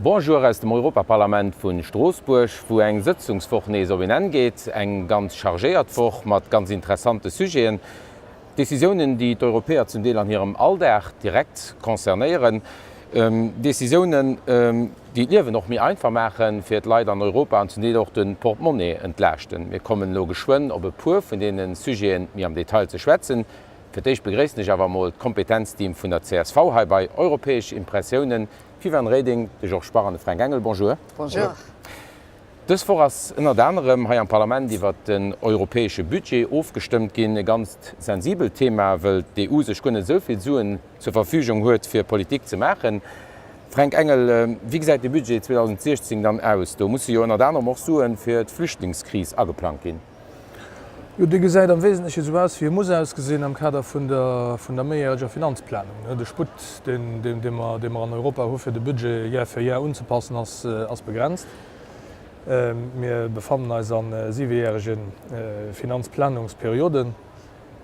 Bonjour aus dem Europaparlament vu Stroossbuerg, wou eng Sëtzungswoch nees op een Enn geet. Eng ganz chargéiert Woch mat ganz interessante Sujeten, Decisiounen, déi d'Europäer zum Deel an hirem Alldag direkt concernéieren, Decisiounen, déi d'Liewen och méi einfach maachen fir d'Leit an Europa an zum Deel och de Portemonnaie entlaaschten. Mir kommen elo geschwënn op e puer vun deene Sujeten méi am Detail ze schwätzen. Fir d'éischt begréissen ech awer emol d'Kompetenzteam vun der csv hei bei Europäesch Impressiounen, d'Viviane Reding, de Georges Bach an de Fränk Engel. Bonjour. Bonjour. Dës Woch ass ënnert anerem hei am Parlament iwwert den europäesche Budget ofgestëmmt ginn. E ganzt sensibelt Thema, wëll d'EU sech guer net esou vill Suen zur Verfügung huet, fir Politik ze maachen. Fränk Engel, wéi gesäit de Budget 2016 dann aus? Do musse jo ënnert anerem och Sue fir d'Flüchtlingskris ageplangt ginn. Jo, dee gesäit am Wesentleche esou aus, wéi e muss ausgesinn am Kader vun der méijäreger Finanzplanung. De Sputt, dee mer an Europa hu fir de Budget Year fir Year unzepassen, ass begrenzt. Mir befannen eis a siwejärege Finanzplanungsperioden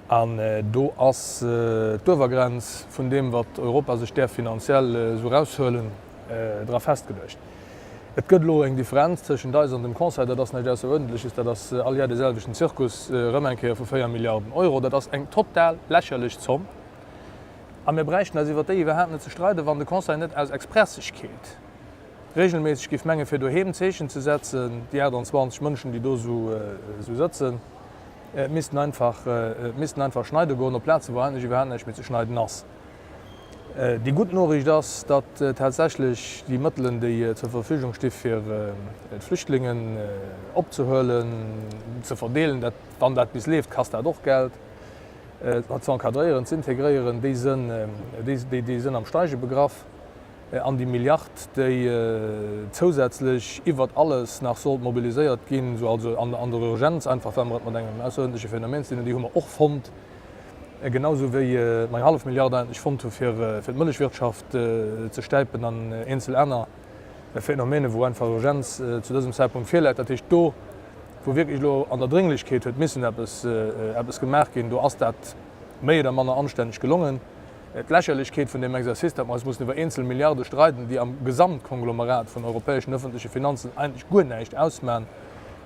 an do ass d'Uewergrenz vun deem, wat Europa sech däerf finanziell esou eraushuelen, dra festgeluecht. Et gëtt elo eng Differenz tëschent eis an dem Conseil, dat ass näischt Ausseruerdentleches, dat ass all Jar de selwechten Zirkus erëm eng Kéier vu 4 Milliarden Euro. Dat ass eng total lächerlech Zomm a mir bräichten eis iwwer déi iwwerhaapt net ze streiden, wann de Conseil net aus Expressegkeet reegelméisseg géif menge fir doheem en Zeechen ze setzen. Déi 28 Mënschen, déi do esou sëtzen, missten einfach, missten einfach schneide goen op Plazen, wou eigentlech iwwerhaapt näischt méi ze schneiden ass. Déi gutt Noriicht ass, datt tatsächlech déi Mëttelen, déi zur Verfügung sti fir d'Flüchtlingen opzehuelen, ze verdeelen, wann dat bis leeft, kasst dat och Geld, ze encadréieren, ze integréieren, déi sinn am Steige begraff. An déi Milliard, déi zousätzlech iwwert alles nach sollt mobiliséiert ginn, also an der Urgenz, einfach well mer et mat engem ausseruerdentleche Phänomen ze dinn hunn, déi hu mer och fonnt, Genausou wéi mei hallef Milliard Aren, déi ech fonnt hu fir d'Mëllechwirtschaft ze stäipen an eenzel aner Phänomene, wou einfach Urgenz zu dësem Zäitpunkt virläit, dat heescht do, wou wierklech elo an der Drénglechkeet huet missen eppes gemaach ginn, do ass dat méi oder manner anstänneg gelongen. D'Lächerlechkeet vun deem Exercice, datt mer eis mussen iwwer eenzel Milliarde streiden, déi am Gesamtkonglomerat vun europäeschen ëffentleche Finanzen eigentlech guer näischt ausman,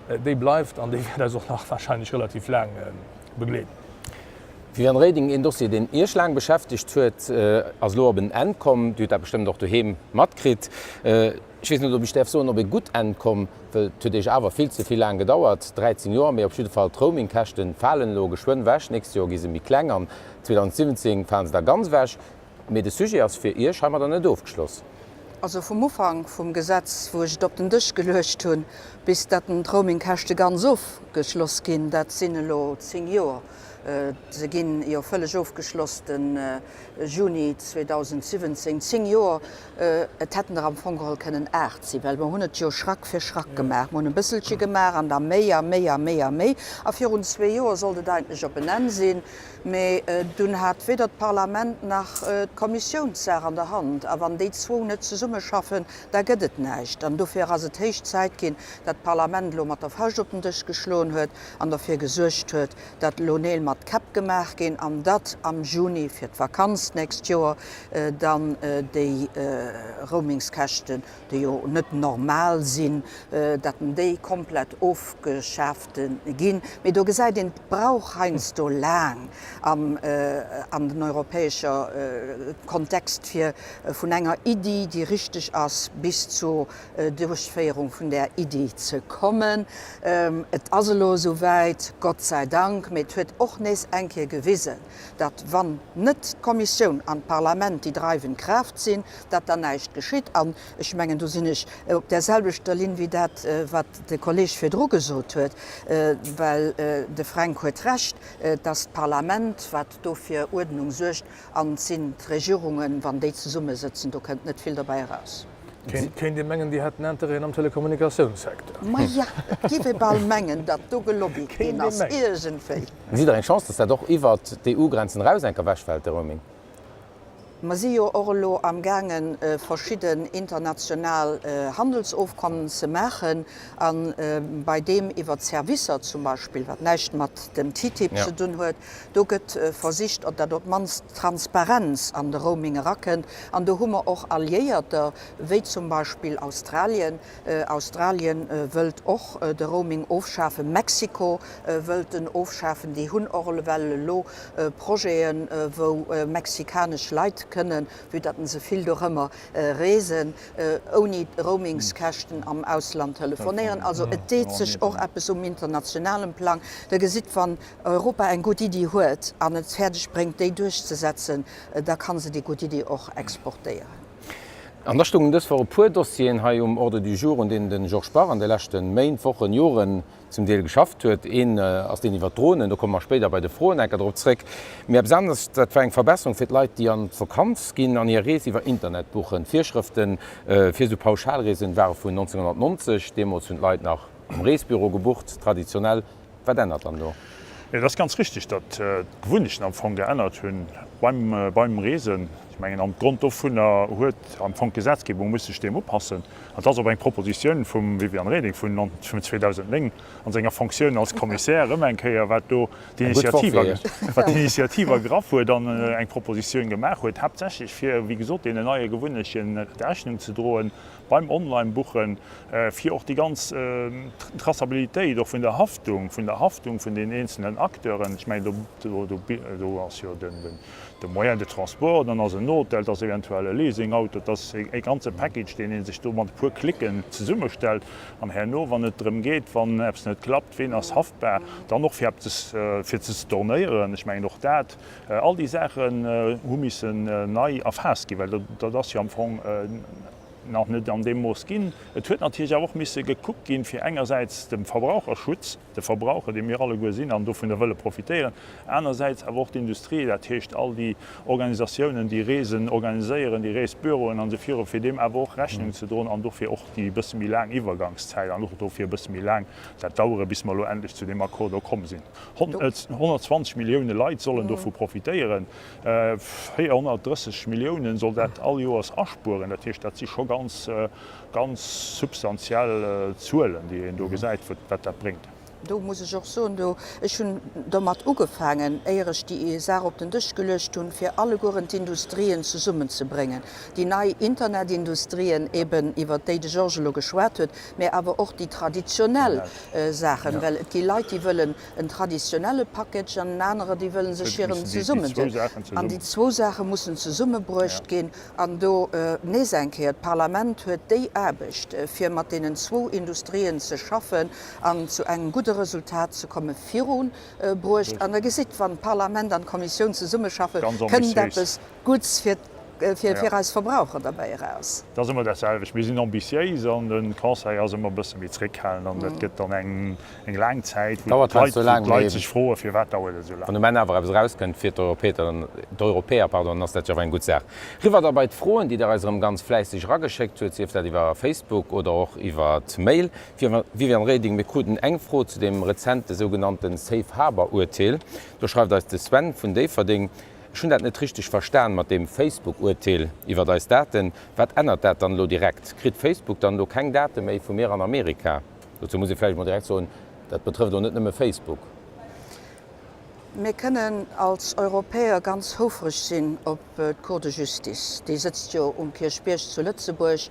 déi bleift an déi wäert eis och nach warscheinlech relativ laang begleeden. Viviane Reding, Een Dossier deen Iech laang beschäftegt huet, ass elo op en Enn komm. Dir hutt dat bestëmmt och doheem matkritt. Ech weess net ob ech däerf soen op ee gutt Enn komm, well et huet Iech awer vill ze vill laang gedauert, 13 Joer. Mee op jidde Fall, d'Roaming Käschten falen elo geschwënn ewech. Nächst Joer gi se méi kleng an 2017 falen se da ganz ewech. Mee de Sujet ass fir Iech heimadder net ofgeschloss. Also vum Ufank vum Gesetz, wou ech et op den Dësch geluecht hunn, bis datt den d'Roamingkäschte ganz ofgeschloss ginn, dat sinn elo zéng Joer. Se gi jo vëlleg ofgeschloss de Juni 2017. Zéng Joer, et hätten der am Fong geholl kënnen aacht sinn, well mer hunn et jo Schrack fir Schrack gemaach. Mer hunn e bësselche gemaach an da méi a méi a méi a méi. A virun zwee Joer sollt et eigentlech op en Enn sinn. Mee dunn hat weder d'Parlament nach d'Kommissioun d'Saach an der Hand. A wann déi zwou net zesummeschaffen, da gëtt et näischt. An dofir ass et héich Zäit ginn, dat d'Parlament elo mat der Fauscht op den Dësch geschloen huet an derfir gesuergt huet, dat elo Neel mat Käpp gemaach ginn an dat am Juni fir d'Vakanz d'nächst Joer dann déi Roamingskäschten déi jo net normal sinn, dat en déi komplett ofgeschaaft ginn, mee do gesäit een, et brauch heiansdo laang an den europäescher Kontext, fir vun enger Iddi, déi richteg ass, bis zur Duerchféierung vun där Iddi ze kommen. Et ass elo esouwäit, Gott sei Dank, mee et huet och nees eng Kéier gewisen, datt wann net d'Kommissioun an d'Parlament déi dreiwend Kraaft sinn, datt dann näischt geschitt. An ech mengen, do sinn ech op där selwechter Linn wéi dat, wat de Kolleeg virdru gesot huet, well de Fränk huet Recht, datt d'Parlament, wat do fir Uerdnung suergt, an et sinn d'Regierungen, wann déi zesummesëtzen, do kënnt net vill dobäi eraus. Kéint ee mengen, Dir hätt en Interêt am Telekommunikatiounssecteur. Maja, et géif ee bal mengen, datt do gelobbyt ginn ass iergendwéi. Gesitt Der eng Chance, datt dat och iwwer d'EU-Grenzen eraus enk ewechfält, de Roaming? Mer si jo och elo amgaange verschidden international Handelsofkommen ze maachen, a bei deem iwwer d'Servicer zum Beispill, wat näischt mat dem TTIP ze dunn huet, Do gëtt versicht, op dat op d'mannst Transparenz an de Roaming erakënnt. An do hu mer och Alliéierter, wéi zum Beispill Australien. Australien wëllt och de Roaming ofschafen. Mexiko wëllt en ofschafen. Déi hunn och ewell elo Projeten, wou mexikanesch Leit kënnen, vue datt se vill dorëmmer reesen, ouni Roamingskäschten am Ausland telefonéieren. Also et deet sech och eppes um internationalem Plang. Der gesitt, wann Europa eng gutt Iddi huet an et fäerdeg bréngt déi duerchzesetzen, da kann se déi gutt Iddi och exportéieren. An da stoungen dës Woch e puer Dossieren hei um Ordre du jour, un deenen de Georges Bach an de leschte Méint, Wochen, Joren zum Deel geschafft huet. Een ass deen iwwert d'Dronen, do komme mer spéider bei de Froen enker drop zréck. Mee eppes aneres, dat war eng Verbesserung fir d'Leit, déi an d'Vakanz ginn an hir Rees iwwer Internet buchen. D'Virschrëfte fir esou Pauschalreesen ware vun 1990, deemools hunn d'Leit nach am Reesbüro gebucht, traditionell. Wat ännert dann do? Et ass ganz richteg, datt d'Gewunnechten am Fong geännert hu beim Reesen. Ech mengen, op Grond dovunner huet am Fong d'Gesetzgebung musse sech deem upassen. An et ass op eng Propositioun vum Viviane Reding vun 2009 a senger Fonctioun als Commissaire erëm eng Kéier, wat do d'Initiativ ergraff huet an eng Propositioun gemaach huet, haaptsächlech fir, wéi gesot, deenen neie Gewunnechten Rechnung ze droen. beim Online-Buchen, fir och déi ganz Traçabilitéit och vun der Haftung, vun der Haftung vun den eenzelnen Acteuren, ech mengen, do ass jo de Moyen de transport, dann ass en Hotel, et ass eventuell e Leasing-Auto, et ass e ganze Package, deen ee sech do mat e puer Klicken zesummestellt an herno, wann et drëm geet, wann eppes net klappt, ween ass haftbar, dann och fir eppes fir ze stornéieren, ech mengen, och dat. All déi Saachen hu missen nei erfaasst ginn, well dat ass jo am Fong nach net an deem Mooss ginn. Et huet natierlech awer och misse gekuckt ginn, fir engersäits dem Verbraucherschutz, de Verbraucher, dee mir alleguer sinn an dovunner wëlle profitéieren, anersäits awer och d'Industrie, dat heescht all déi Organisatiounen, déi Reesen organiséieren, déi Reesbüroen an esou virun, fir deem awer och Rechnung ze droen an dofir och déi e bësse méi laang Iwwergangszäit an och dofir e bësse méi laang dat Dauere bis mer elo endlech zu deem Accord do komm sinn. 120 Millioune Leit sollen dovu profitéieren. 430 Milliounen soll dat all Joers aspueren. Dat heescht, dat si scho ganz, ganz substantiell Zuelen, déi een do gesäit, wat dat bréngt. Do muss ech och soen, do, ech hunn domat ugefaangen, éier ech déi Saach op den Dësch geluecht hunn, fir allegueren d'Industrien zesummenzebréngen, déi nei Internetindustrien eben, iwwert déi de Georges elo geschwat huet, mä awer och déi traditionell. Saachen, well et gi Leit, déi wëllen en traditionelle Package an en anere, déi wëlle sech hiren zesummedinn. An déi zwou Saache mussen zesummebruecht ginn. An do nees eng Kéier, D'Parlament huet déi Aarbecht, fir mat deenen zwou Industrien ze schaffen an zu engem gudde Resultat ze kommen, virubruecht. An Der gesitt, wann d'Parlament an d'Kommissioun zesummeschaffe kënnt eppes Guts fir eis Verbraucher derbäi eraus. Et ass ëmmer dat selwecht, mir sinn ambitiéis an de Conseil ass ëmmer e bësse méi zréckhalend an dat gëtt dann eng laang Zäit, wou d'Leit sech froen, firwat dauert et esou laang. Wann um Enn awer eppes erauskënnt fir d'Europäer, dann ass dat jo awer eng gutt Saach. Riwwer da bei d'Froen, déi Der eis erëm ganz fläisseg erageschéckt hutt, sief dat iwwer Facebook oder och iwwer d'Mail. Viviane Reding, Mir kruten eng Fro zu deem rezente sougenannte Safe Harbour-Urteel. Do schreift eis de Sven vun Déifferdeng, Ech hunn dat net richteg verstan mat deem Facebook-Urteel iwwert eis Daten. Wat ännert dat dann elo direkt? Kritt Facebook dann elo keng Date méi vu mir an Amerika? Dozou muss ee vläicht emol direkt soen, dat betrëfft och net nëmme Facebook. Mir kënnen als Europäer ganz houfreg sinn op d'Cour de Justice. Déi sëtzt jo um Kierchbierg zu Lëtzebuerg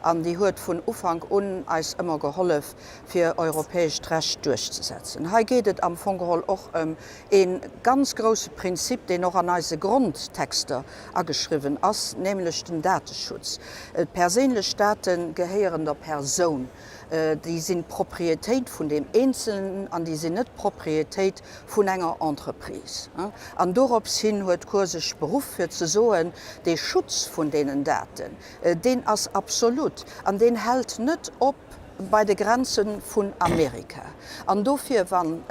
an déi huet vun Ufank un eis ëmmer gehollef, fir europäescht Recht duerchzesetzen. Hei geet et am Fong geholl och ëm E ganz grousse Prinzip, deen och an eise Grondtexter ageschriwwen ass, nämlech den Dateschutz. D'perséinlech Date gehéieren der Persoun. Déi sinn d'Propriétéit vun deem Eenzelnen an déi sinn net d'Propriétéit vun enger Entreprise. An dorops hin huet d'Cour sech beruff fir ze soen, dee Schutz vun deenen Daten, deen ass absolut an deen hält net op bei de Grenze vun Amerika. An dofir, wann.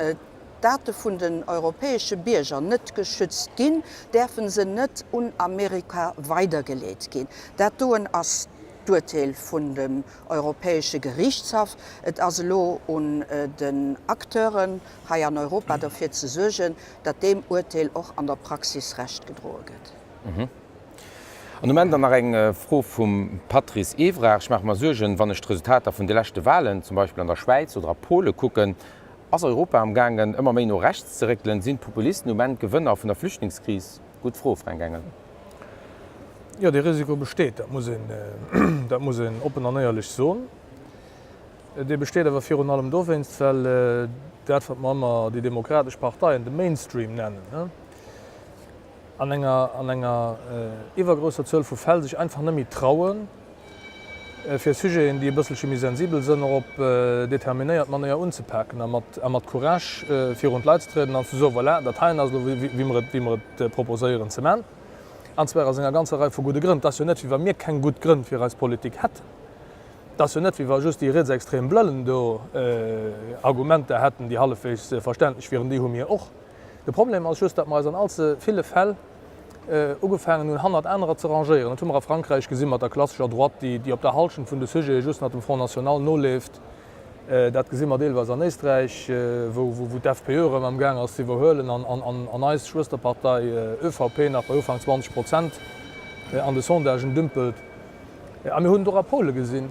Date vun den europäesche Bierger net geschützt ginn, däerfe se net un Amerika weidergeleet ginn. Dat doen ass d'Urteel vun dem Europäesche Geriichtshaff. Et ass elo un den Acteuren hei an Europa derfir ze suergen, datt deem Urteel och an der Praxis Recht gedroe gëtt. An um Enn dann nach eng Fro vum Patrice Evrer, Ech maache mer Suergen, wann ech d'Resultater vun de leschte Wahlen zum Beispill an der Schwäiz oder a Pole kucken, Ass Europa am gaangen ëmmer méi no rechts ze réckelen? Sinn d'Populisten um Enn d'Gewënner vun der Flüchtlingskris? Gutt Fro, Fränk Engel. Jo, dee Risiko besteet, dat muss een, dat muss een oppen an éierlech soen. Dee besteet awer virun allem dowéinst, well dat, wat mer ëmmer déi demokratesch Parteien de Mainstream nennen, an enger an enger iwwergrousser Zuel vu Fäll sech einfach net méi trauen, fir Sujeten, déi e bësselche méi sensibel sënn, och op determinéiert Manéier unzepaken a mat a mat Courage virun d'Leit ze trieden an ze soen, Voilà, dat heien ass elo, wéi mer et wéi mer et proposéieren ze man, an zwar aus enger ganzer Rei vu gudde Grënn. Et ass jo net, wéi wa mir keng gutt Grënn fir eis Politik hätten. Et ass jo net, wéi wa just déi rietsextrem Blëllen do Argumenter hätten, déi hallefwegs verständlech wieren. Déi hu mir och. De Problem ass just, datt mer eis an allze ville Fäll ugefaangen hunn, hannert anerer ze rangéieren. Dat hu mer a Frankräich gesi mat der klassescher Droite, déi op der Halschent vun de Sujete just nach dem Front national noleeft. Dat gesi mer deelweis an Éisträich, wou d'FPÖ erëm am gaang ass ze iwwerhuelen an eis Schwësterpartei ÖVP nach bei Ufank 20 Prozent an de Sondagen dümpelt. A mir hunn et och a Polen gesinn.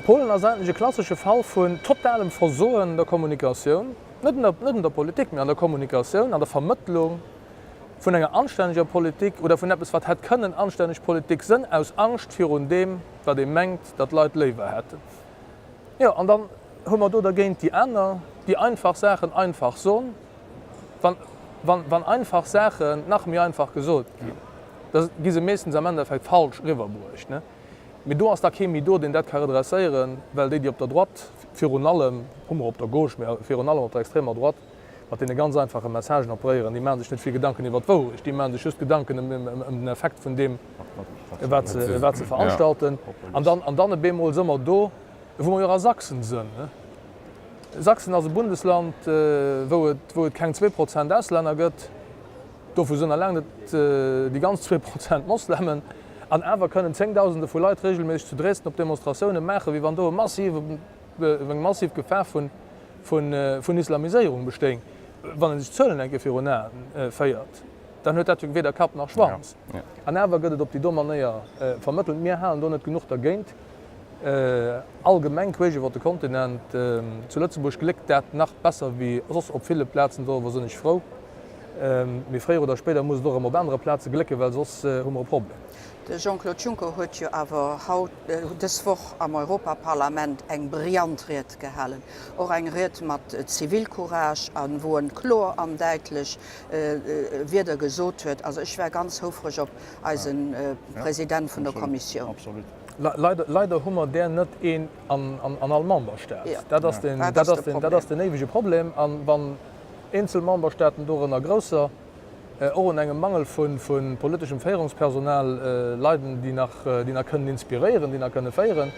Polen ass eigentlech e klassesche Fall vun totalem Versoen der Kommunikatioun. Net un der Politik, mee an der Kommunikatioun, an der Vermëttlung vun enger anstänneger Politik oder vun eppes, wat hätt kënnen anstänneg Politik sënn, aus Angscht virun deem, wat ee mengt, dat d'Leit léiwer hätten. Jo, an dann hu mer do dergéint déi aner, déi einfach Saachen einfach son, wann einfach Saachen nach méi einfach gesot ginn, da gi se meeschtens am Endeffekt falsch riwwerbruecht. Mee do ass da kee méi do, deen dat ka redresséieren, well déi, déi op der Droite, virun allem, hu mer op der Gauche, mä virun allem op der extremer Droite, mat deene ganz einfache Messagen operéieren, déi maache sech net vill Gedanken iwwert d'Wourecht, déi maache sech just Gedanken ëm den Effekt vun deem, wat se veranstalten. An dann op eemol si mer do, wou mer jo och a Sachsen sinn. Sachsen ass e Bundesland, wou et keng zwee Prozent Auslänner gëtt. Dovu sinn eleng net déi ganz zwee Prozent Moslemen. An awer kënnen zéngdausende vu Leit reegelméisseg zu Dresden op Demonstratioune maachen, wéi wann do eng massiv Gefahr vun Islamiséierung bestéing. Wann ee sech d'Zuelen eng Kéier virun Aen féiert, dann huet dat jo weder Kapp nach Schwanz. An awer gëtt et op déi domm Manéier vermëttelt, mir halen do net genuch dergéint. Allgemeng queesch iwwer de Kontinent. Zu Lëtzebuerg gléckt dat nach besser wéi soss op ville Plazen, doriwwer sinn ech frou. Mee fréier oder spéider muss et och erëm op anere Plaze glécken, well soss hu mer e Problem. De Jean-Claude Juncker huet jo awer haut, dës Woch am Europaparlament eng brillant Ried gehalen. Och eng Ried mat Zivilcourage a wou en kloer an däitlech Wierder gesot huet. Also ech war ganz houfreg op eise President vun der Kommissioun. Leider hu mer där net een an all Memberstaat. Dat ass den éiwege Problem. A wann eenzel Memberstaaten, dorënner grousser, och un engem Mangel vu politeschem Féierungspersonal leiden, déi nach kënnen inspiréieren, déi nach kënne féieren,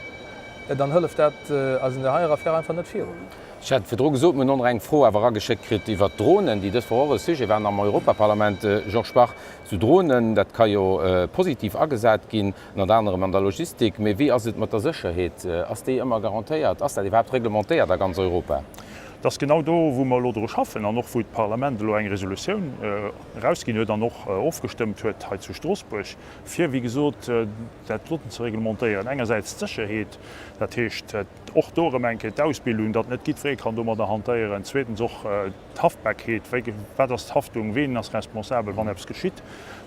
dann hëlleft dat eis an där heier Affär einfach net virun. Ech hat virdru gesot, mir hunn och nach eng Fro awer erageschéckt kritt iwwert d'Dronen, déi dës Woch och e Sujet waren am Europaparlament. Georges Bach, esou Dronen, dat ka jo positiv agesat ginn. Ënnert anerem an der Logistik. Mee wéi ass et mat der Sécherheet? Ass déi ëmmer garantéiert? Ass dat iwwerhaapt reglementéiert a ganz Europa? Dat ass genau do, wou mer elo dru schaffen an och wou d'Parlament elo eng Resolutioun erausginn huet an och ofgestëmmt huet hei zu Stroossbuerg, fir, wéi gesot, dat doten ze reglementéieren. Engersäits d'Sécherheet, dat heescht och do erëm eng Kéier d'Ausbildung, datt net jiddweree kann domadder hantéieren. Zweetens och. D'Haftbarkeet, wat ass d'Haftung, ween ass responsabel, wann eppes geschitt?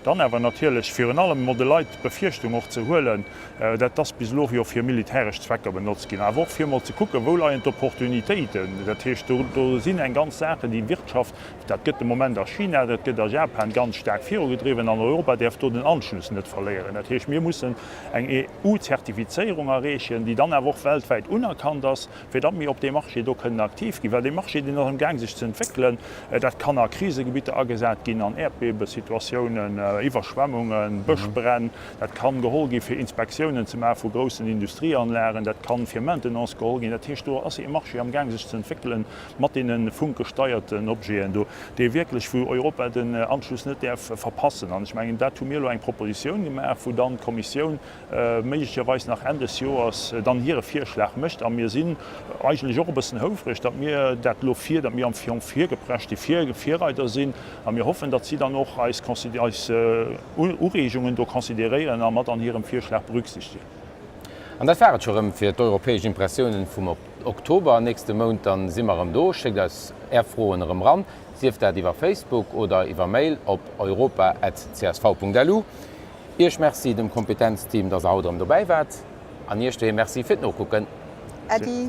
Dann awer natierlech virun allem emol de Leit d'Befierchtung och ze huelen, dat ass bis elo jo fir militäresch Zwecker benotzt ginn, awer och fir emol ze kucken, wou leien d'Opportunitéiten. Dat heescht, do sinn eng ganz Saachen, déi d'Wirtschaft, dat gëtt de Moment a China, dat gëtt a Japan ganz staark virugedriwwen an Europa däerf do den Anschluss net verléieren. Dat heescht, mir mussen eng EU-Zertifizéierung erreechen, déi dann awer och weltwäit unerkannt ass, fir datt mir op deem Marché do kënnen aktiv ginn, well dee Marché, deen ass am Gaang sech ze entwéckelen. Dat kann a Krisegebitter agesat ginn, an Äerdbewesituatiounen, Iwwerschwemmungen, Bëschbränn. Dat kann geholl gi fir Inspektiounen ze maache vu groussen Industrieanlagen. Dat kann fir Maintenance geholl ginn. Dat heescht, do ass ee Marché am Gaang sech ze entwéckelen mat deene funkgesteierten Objeten do, dee wierklech, wou Europa den Anschluss net däerf verpassen. An ech mengen, dat hu mir elo eng Propositioun gemaach, wou dann d'Kommissioun méiglecherweis nach Enn des Joers dann hire Virschlag mécht. A mir sinn eigentlech och e bëssen houfreg, datt mir dat elo vir, datt mir am Fong virgepresch déi Virreider sinn. A mir hoffen, datt si dann och eis Ureegungen do consideréieren a mat an hirem Virschlag berücksichtegen. An dat war et scho rëm fir d'europäesch Impressiounen vum Oktober. Nächste Mount da si mer erëm do. Schéckt eis Är Froen erëm ran, sief dat iwwer Facebook oder iwwer Mail op europa.csv.lu. Iech Merci dem Kompetenzteam, dass der haut erëm dobäi waart an Iech doheem Merci fir d'Nokucken. Äddi.